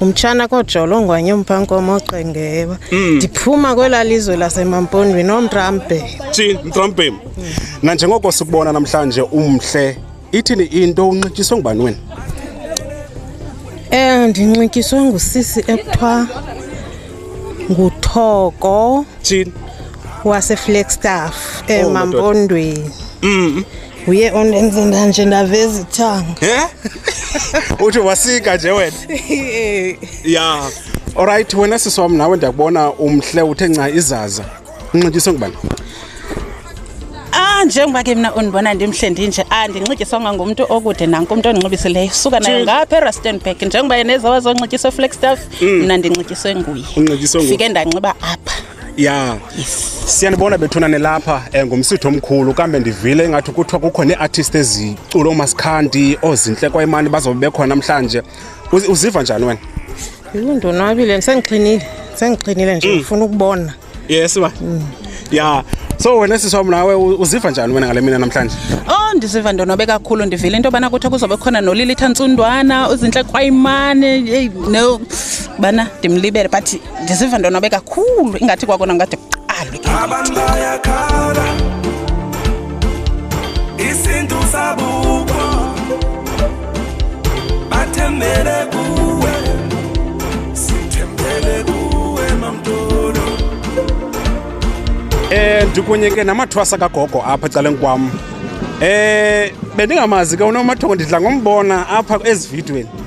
umtshana kojolo ngwanye umpankomo oqengeba mm. ndiphuma kwela lizwe lasemampondweni omtrampe thini mtrampem nanjengoko sikubona namhlanje umhle ithini into unxityiswe ngubani wena um ndinxityiswe ngusisi ekuthiwa nguthoko thini waseflagstaff oh, emampondweni mm. uye ondenze ndanje ndaveza ithanga Eh? uthi wasika nje wena ya olrayithi wena sisi wam nawe ndiyakubona umhle uthe nca izaza unxityiswe ngubani Ah njengoba ke mina undibona ndimhle ndinje andinxityiswanga ngumntu okude nanku umntu ondinxibisileyo suka nayo ngapha eRustenburg njengoba yena ezawa zonxityiswa eFlagstaff mna ndinxityiswe nguye Unxityiswe nguye. fike ndanxiba apha ya siyanibona bethuna nilapha um ngumsitho omkhulu kambe ndivile ingathi kuthiwa kukho nee-artist ezicula umasikhanti oozintle kwayimani bazobe bekhona namhlanje uziva njani wena yini ndonwabile sendixinile sendixinile nje mm. ndifuna ukubona yes ba mm. ya so wena siswam nawe uziva njani wena ngale mina namhlanje oh ndiziva ndonwabe kakhulu ndivile into yobana kuthiwa kuzobe khona nolilitha ntsundwana uzintle kwayimane eyi no bana ndimlibele but ndiziva ndonwabe kakhulu ingathi kwakona ngade kuqalwe abantu bayakhala isintu sabuko bathembele kuwe sithembele kuwe mamtolo Eh ndikunye ke namathwasa kagogo apha ecaleni kwam. Eh bendingamazi ke unomathongo ndidla ngombona apha ezividweni.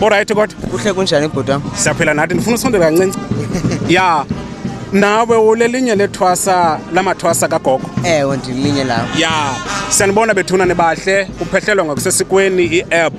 olrayithi kodwa kuhle kunjani bhuti wam siyaphila nathi ndifuna usondela kancinci ya nawe ulelinye lethwasa lamathwasa kagogo ewe ndilinye lawo ya siyanibona bethuna nibahle kuphehlelwa ngokusesikweni i-app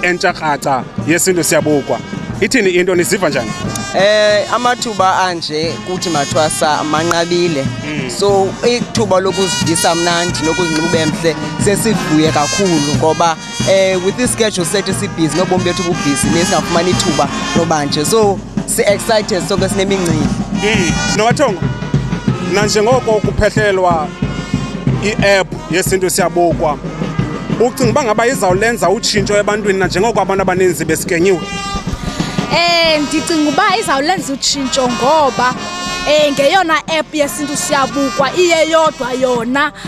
entsha kratsa yesintu siyabukwa ithini into niziva njani Eh amathuba anje kuthi mathwasa manqabile. Mm. So ithuba lokuzivisa mnandi nokuzinxiba emhle sesivuye kakhulu ngoba eh with this schedule set esibhizi nobomi bethu bubhizi nesingafumani ithuba loba nje so si-excited sonke sinemingcili mm. nowathongo mna njengoko kuphehlelwa i-app yesintu siyabukwa ucinga uba ngaba izawulenza utshintsho ebantwini nanjengoko abantu abaninzi besikenyiwe um ndicinga uba izawulenza utshintsho ngoba um ngeyona app yesintu siyabukwa iyeyodwa yona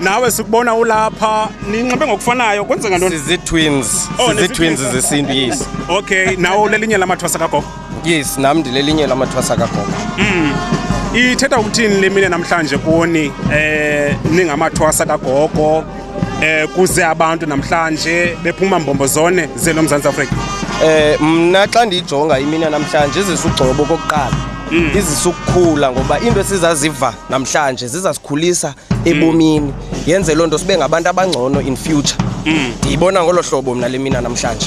nawe sikubona ulapha ninxibe ngokufanayo kwenzeka ntoni sizii-twins Oh, sizii-twins nezii-twins. zesintu yes okay nawe ulelinye lamathwasa kagogo yes nam ndilelinye lamathwasa kagogo ithetha ukuthini le mine namhlanje kuni eh ningamathwasa kagogo eh kuze abantu namhlanje bephuma mbombo zone zelo mzantsi afrika Eh mna xa ndiyijonga imina namhlanje izisa ugcobo okokuqala izisa ukukhula ngoba into esizaziva namhlanje zizasikhulisa ebomini yenze loo nto sibe ngabantu abangcono in future mm. ndiyibona ngolo hlobo mna le mina namhlanje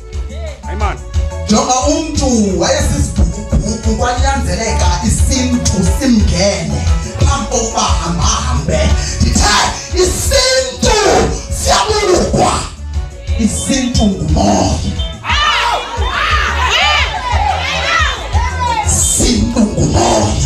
jonga umntu wayesisibhukubhuku kwanyanzeleka isintu simngene phambi kokuba hambahambe ndithe isintu siyabulukwa isintu ngumoya sintu ngumoya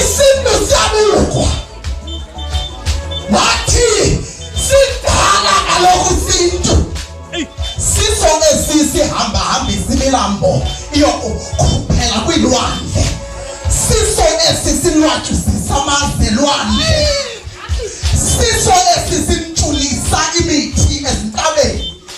isintu siyabukwa wathi sidala kaloku isintu sisonge sisihambahamba isimilambo iyokukhuphela kwiilwandle siso esi silwatyusisa amazelwandle siso esi